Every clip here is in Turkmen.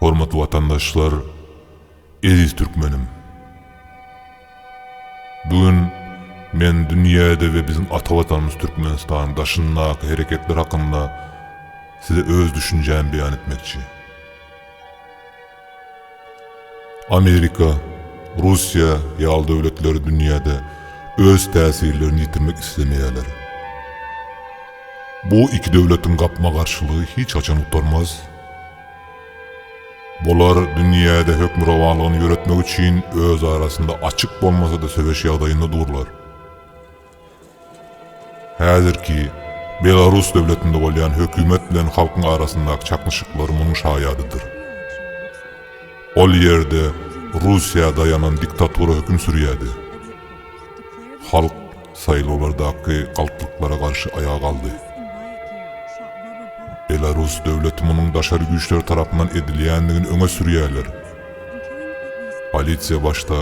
Hormatly watandaşlar, eziz türkmenim! Bu gün men dünýäde we biziň ata Watanymyz Türkmenistanyň daşyndaky hereketler hakynda size öz düşünjämi beýan etmekçi. Amerika, Russiýa ýaly döwletler dünýäde öz täsirlerini ýitirmek islemeýärler. Bu iki döwletiň gapma-garşylygy hiç haçan gutarmaz. Bular dünýäde hökmürowanlygyny ýöretmek üçin öz arasynda açyk bolmasa-da söweş ýagdaýynda durlar. Häzirki Belarus döwletinde bolýan hökümet bilen halkyň arasyndaky çaknyşyklar munuň şaýadydyr. Ol ýerde Russiýa daýanan diktatura höküm sürýärdi. Halk saýlawlardaky galplyklara garşy aýaga galdy. Belarus döwleti munuň daşary güýçler tarapyndan edilýändigini öňe sürýärler. Polisiýa başda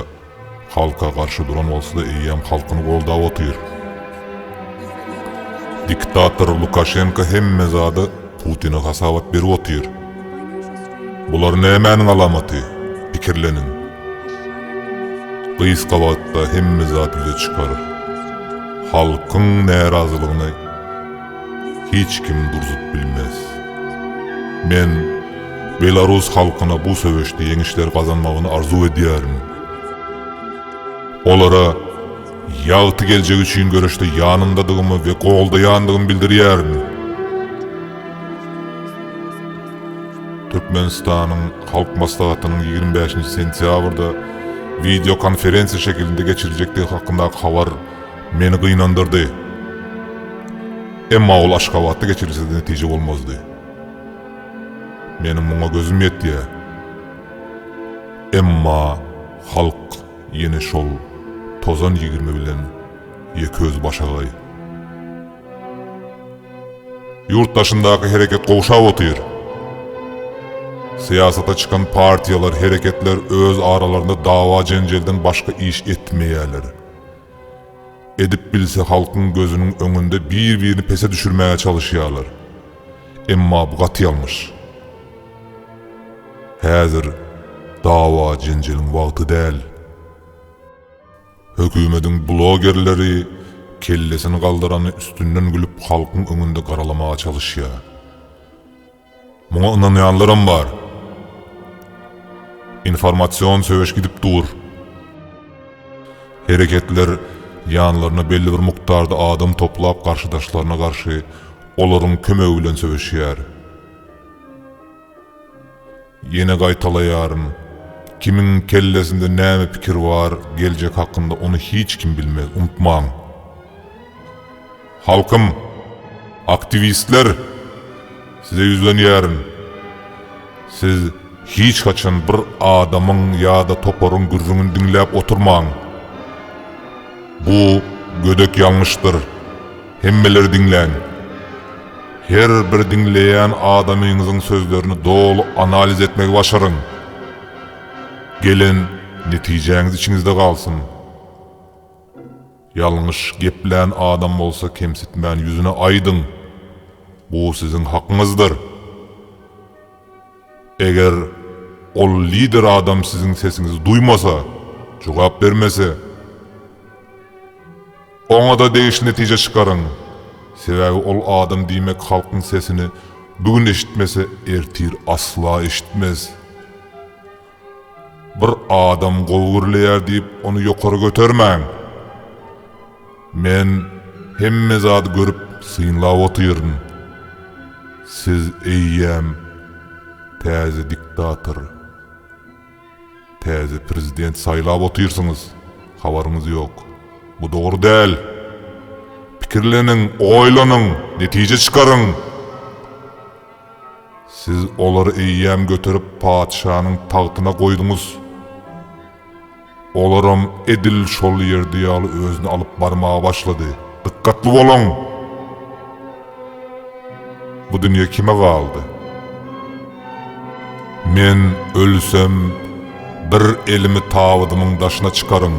Halka garşy duran bolsada eýýäm halkyny goldap otyr. Diktator Lukaşenko hemme zada Putine hasabat berip otyr. Bular nämäniň alamaty? Pikirleniň. Gysga wagtda hemme zat ýüze çykar. Halkyň närazylygyny. hiç kim durzup bilmez. Men Belarus halkyna bu söweşde ýeňişler gazanmagyny arzuw edýärin. Olara ýagty geljek üçin göreşde ýanyndadygymy we goldaýandygymy bildirýärin. Türkmenistanyň Halk Maslahatynyň ýigrimi bäşinji sentýabrda wideokonferensiýa şekilinde geçiriljekdigi hakyndaky habar Meni gynandyrdy. Emma ol Aşgabatda geçirilse-de netije bolmazdy. Meniň muňa gözüm ýetýär. Emma halk ýene şol tozan ýigrimi bilen ýekeözi başagaý. Ýurt daşyndaky hereket gowşap otyr. Syýasata çykan partiýalar, hereketler öz aralarynda dawa-jenjelden başga iş etmeýärler. Edip bilse halkyň gözüniň öňünde bir birini pese düşürmäge çalyşýarlar. Emma bu gaty ýalňyş. Häzir dawa jenjeliň wagty däl. Hökümediň blogerleri kellesini galdyrany üstünden gülüp halkyň öňünde garalamaga çalyşýar. Muňa ynanýanlaram bar. Informasion söweş gidip dur. Hereketler ýanlaryna belli bir mukdarda adam toplap garşydaşlaryna garşy olaryň kömegi bilen söweşýär. Ýene gaýtalaýaryn, kimiň kellesinde näme pikir bar geljek hakynda ony hiç kim bilmez, unutmaň. Halkym, aktiwistler, size ýüzlenýärin. Siz hiç haçan bir adamyň ýa-da toparyň gürrüňini diňläp oturmaň. Bu gödek ýalňyşdyr. Hemmeleri diňläň. Her bir diňleýän adamyňyzyň sözlerini doly analiz etmegi başaryň. Gelen netijäňiz içiňizde galsyn. Ýalňyş geplän adam bolsa kemsitmän ýüzüne aýdyň, bu siziň hakyňyzdyr. Eger ol lider adam siziň sesiňizi duýmasa, jogap bermese, oňa-da degişli netije çykaryň, sebäbi ol adam diýmek halkyň sesini bu gün eşitmese ertir asla eşitmez. Bir adam gowy gürleýär diýip ony ýokary götermäň. Men hemme zady görüp synlap otyryn. Siz eýýäm täze diktator, täze prezident saýlap otyrsyňyz, habaryňyz ýok. Bu dogry däl. Pikirleniň, oýlanyň, netije çykaryň. Siz olary eýýäm göterip patyşanyň tagtyna goýduňyz. Olaram edil şol ýerde ýaly özüni alyp barmaga başlady. Dykgatly boluň! Bu dünýe kime galdy? Men ölsem, bir elimi tabydymyň daşyna çykaryn.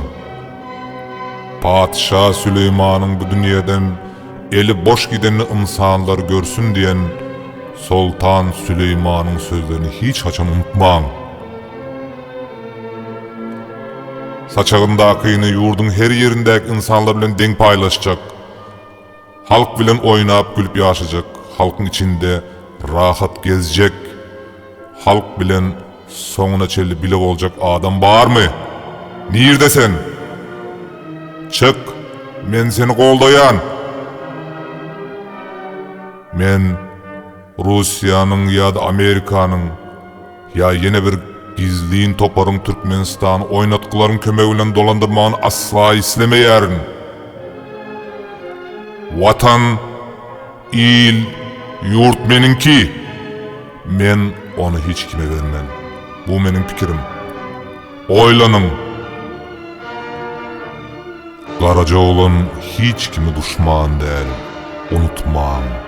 Patyşa Süleýmanyň bu dünýeden Eli boş giden ynsanlar görsün diýen Soltan Süleýmanyň sözlerini hiç haçan unutmaň. Saçagyndakyny ýurduň her ýerindäki ynsanlar bilen deň paýlaşjak. Halk bilen oýnap-gülüp ýaşajak, halkyň içinde rahat gezjek, halk bilen Soňuna çenli bile boljak adam barmy? Nirde sen? Çyk, men seni goldaýan! Men Russiýanyň ýa-da Amerikanyň ýa ýene bir gizlin toparyň Türkmenistany oýnatgylaryň kömegi bilen dolandyrmagyny asla islemeýärin. Watan Il, ýurt meniňki! Men ony hiç kime bermen. Bu meniň pikirim. Oýlanyň! Garaja oglan hiç kimi duşman däl, unutmaň!